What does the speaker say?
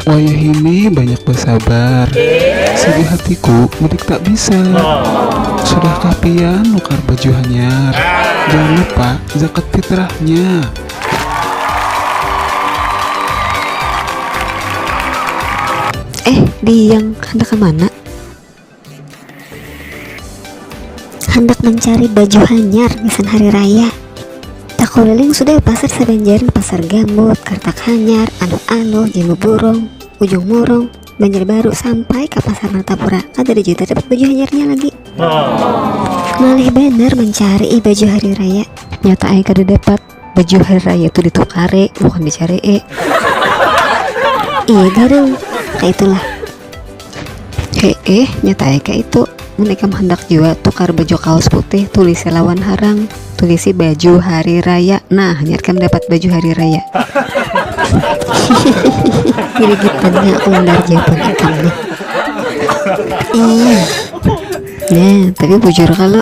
Wayahini banyak basabar Sigi hatiku mudik tak bisa Sudahkah pian nukar baju hanyar Jangan lupa zakat fitrahnya Eh diang handak kamana. handak mencari baju hanyar gasan hari raya takuliling sudah pasar sabanjaran pasar gambut kartak hanyar anuh-anuh jimbu burung ujung murung banjarbaru sampai ka pasar martapura kada ada jua terdapat baju hanyarnya lagi malih banar mencari baju hari raya nyata ai kada dapat baju hari raya tuh ditukare bukan dicari eh iya garing kayak itulah eh eh nyata ya kayak itu mereka hendak juga tukar baju kaos putih tulis lawan harang tulisi baju hari raya nah nyatakan dapat baju hari raya jadi kita nya undar jawaban ikan nih iya nah tapi bujur kalau